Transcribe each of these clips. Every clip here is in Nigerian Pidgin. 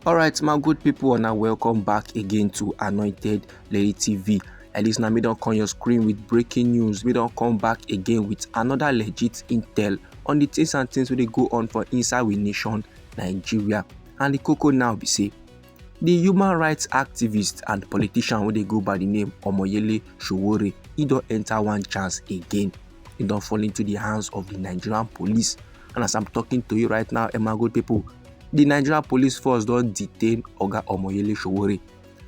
alright my good people and welcome back again to anointed lady tv at least now me don't come your screen with breaking news we don't come back again with another legit intel on the things and things wey dey go on for inside we nation nigeria and the cocoa now be say The human rights activist and politician wey dey go by the name Omoyele Sowore, he don enter one chance again. He don fall into the hands of the Nigerian police. And as I'm talking to you right now, Emago people, the Nigerian police force don detain Oga Omoyele Sowore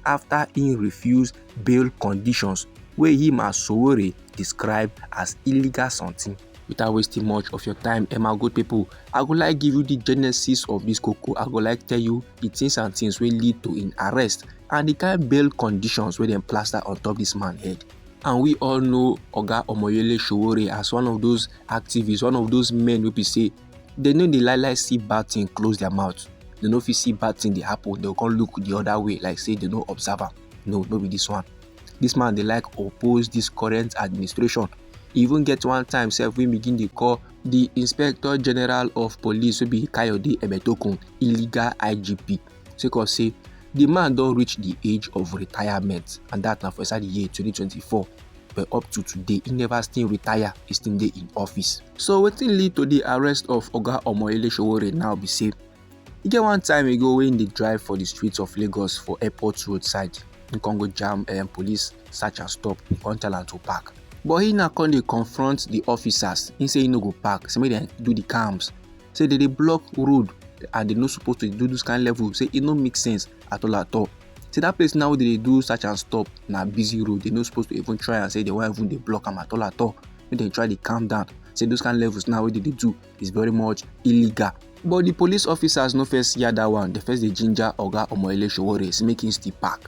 after he refuse bail conditions wey him as Sowore describe as illegal something. without wasting much of your time and my good people i go like give you the genesis of this cocoa i go like tell you the things and things will lead to in arrest and the kind bail conditions where they plaster on top this man head and we all know oga omoyele showore as one of those activists one of those men who be say they know the lie lie see bad thing close their mouth they know if you see bad thing they happen they go look the other way like say they no observer. no no be this one this man they like oppose this current administration e even get one time sef wey begin dey call di inspector general of police wey be kayode egbetokun illegal igp sake of say di man don reach di age of retirement and dat na for inside di year 2024 but up to today e never still retire e still dey in office so wetin lead to di arrest of oga omoyele sowore now be say E get one time ago wey im dey drive for di streets of Lagos for airport road side, im come go jam um police search and stop, im come tell am to park. But he now come dey confront di officers, im say he no go park, say make dem do di calms, say dem dey block road and dem no suppose to do dis kind level, say e no make sense at all at all. Say dat place now wey dem dey do search and stop na busy road, dem no suppose to even try am, say dem wan even dey block am at all at all, make dem try dey calm down, say those kind levels now wey dem dey do. is very much illegal but the police officers no first hear that one They first dey ginger oga omoyele sowore say make him still pack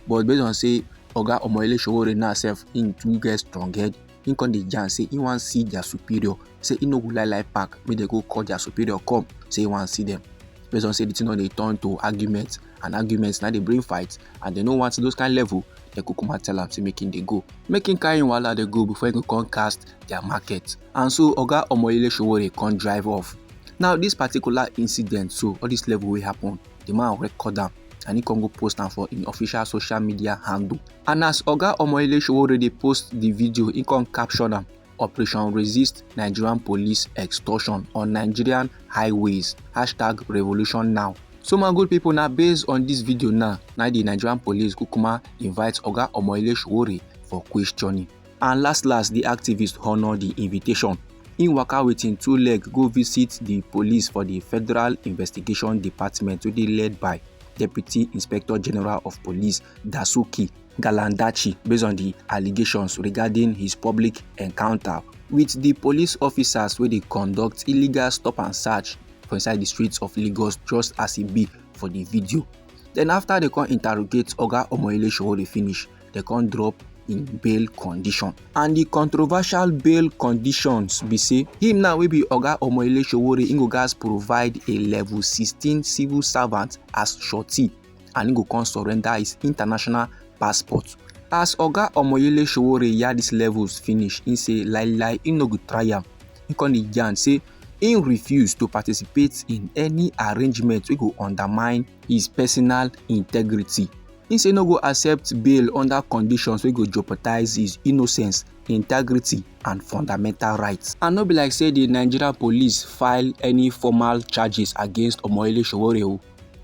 but based on say oga omoyele sowore now sef him too get strong head him come dey yarn say he wan see their superior say he no go lie lie pack make dem go call their superior come say he wan see them based on say the thing don dey turn to argument and argument na dey bring fight and they no want those kind level dem go come and tell am say make him dey go make him carry him wahala dey go before he go come cast their market and so oga omoyele sowore come drive off now this particular incident so all this level wey happen the man record am and he come go post am for im official social media handle and as oga omoyele sowore dey post the video he come caption am operation resist nigerian police extortion on nigerian highways hashtag revolution now so my good people na based on this video now na the nigerian police kukuma invite oga omoyele sowore for questioning And last last, di activist honour di invitation. Im waka with im two leg go visit di police for di Federal Investigation Department wey dey led by Deputy Inspector General of Police Dasuki Galandachi based on di allegations regarding his public encounter with di police officers wey dey conduct illegal stop and search for inside di streets of Lagos just as e be for di video. Then after dem come interrogate Oga Omoyele Sowore finish, dem come drop im bail condition and di controversial bail conditions be say him now wey be oga omoyele sowore im go gatz provide a level 16 civil servant as surety and im go come surrender his international passport as oga omoyele sowore yarn dis levels finish im say lai lai im no go try am im come dey yarn say im refuse to participate in any arrangement wey go undermine his personal integrity He say no go accept bail under conditions wey go jeopardize his innocence, integrity and fundamental rights. And no be like say the Nigeria police file any formal charges against Omoyele Sowore o,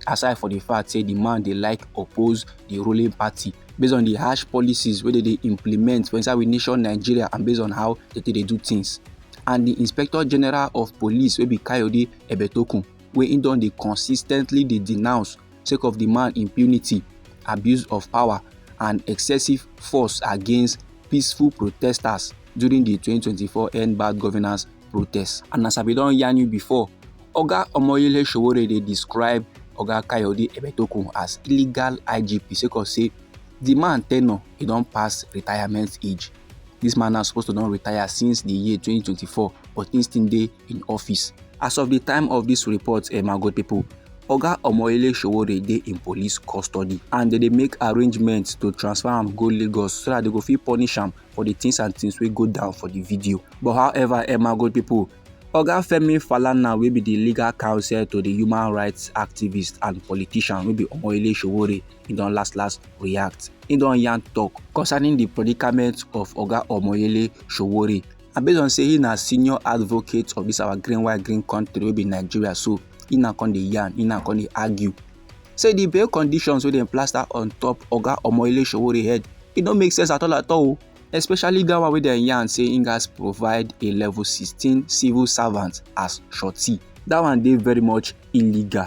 aside for the fact say the man dey like oppose the ruling party based on the harsh policies wey dey dey implement for inside we nation Nigeria and based on how they take dey do things. And the Inspector General of Police wey be Kayode Ebetokun wey he don dey consistently dey denounce sake of di man impunity, abuse of power and excessive force against peaceful protesters during di 2024 End Bad Governance protest. And as I bin don yarn you before, Oga Omoyele Sowore dey describe Oga Kayode Egbetokun as illegal IGP sake of say di man tenure e don pass retirement age. Dis man na suppose to don retire since di year 2024 but im still dey in office. As of di time of dis report, eh, my good pipo, oga omoyele sowore dey in police custody and dem dey make arrangements to transfer am go lagos so dat dem go fit punish am for di things and things wey go down for di video but however emma good pipo oga femi falana wey be di legal counsel to di human rights activist and politician wey be omoyele sowore e don last last react e don yarn tok concerning di predicament of oga omoyele sowore and based on say he na senior advocate of this our green white green country wey be nigeria so he na come dey yarn he na come dey argue say the bail conditions wey dem plaster on top oga omoyele sowore head e no make sense at all at all especially that one wey dem yarn say he gats provide a level sixteen civil servant as shorty that one dey very much illegal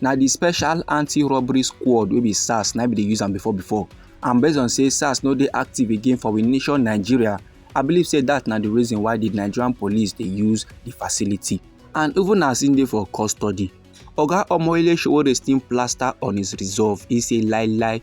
na the special anti-robbery squad wey be sars na be dey use am before before and based on say sars no dey active again for we nation nigeria i believe say that na the reason why the nigerian police dey use the facility and even as im dey for custody oga omoyele sowore still plaster on his resolve he say lie lie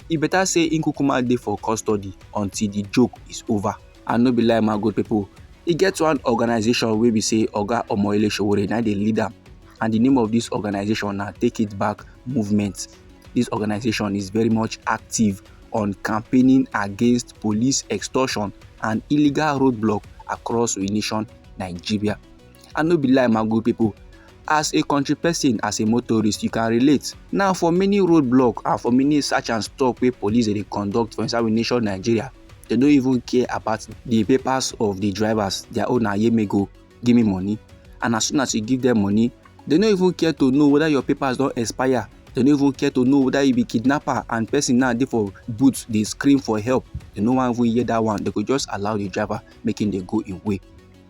e better say im kukuma dey for custody until the joke is over and no be lie my good people e get one organization wey be say oga omoyele sowore na dey lead am and the name of this organization now take it back movement this organization is very much active on campaigning against police extortion and illegal roadblock across the nation nigeria i no be lie my good people as a country person as a motorist you can relate now for many roadblock and for many search and stop wey police dey conduct for inside we nation nigeria they no even care about the papers of the drivers their own na yemego give me money and as soon as you give them money they no even care to know whether your papers don expire they no even care to know whether you be kidnapper and person now dey for boot dey scream for help they no wan even hear that one they go just allow the driver make him dey go im way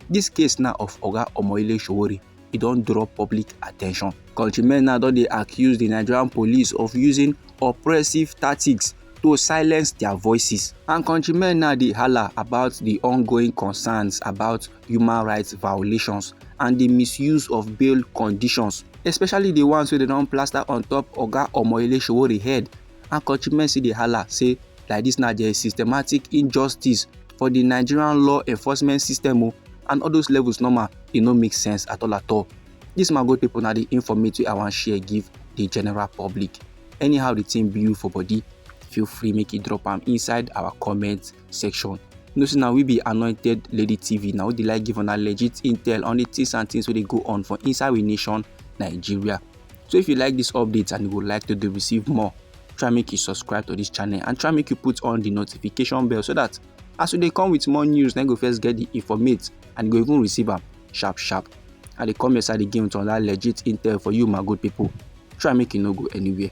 this case now of oga omoyele sowore e don draw public attention countrymen now don dey accuse the nigerian police of using oppressive tactics to silence their voices. And countrymen now dey holla about the ongoing concerns about human rights violations and di misuse of bail conditions especially di ones wey dem don plaster on top oga omoyele sowore head and countrymen still dey hala say like dis na there is systematic injustice for di nigerian law enforcement system o oh, and all those levels normal e no make sense at all at all dis man good pipo na di informate wey i wan share give di general public anyhow di thing be you for body feel free make you drop am inside our comment section you know say na we be anointed lady tv na we dey like give una legit intel on the things and things wey dey go on for inside we nation nigeria so if you like this update and you would like to dey receive more try make you subscribe to this channel and try make you put on the notification bell so that as we dey come with more news na you go first get the informate and you go even receive am sharp sharp i dey come your side again with another legit intel for you my good people try make you no go anywhere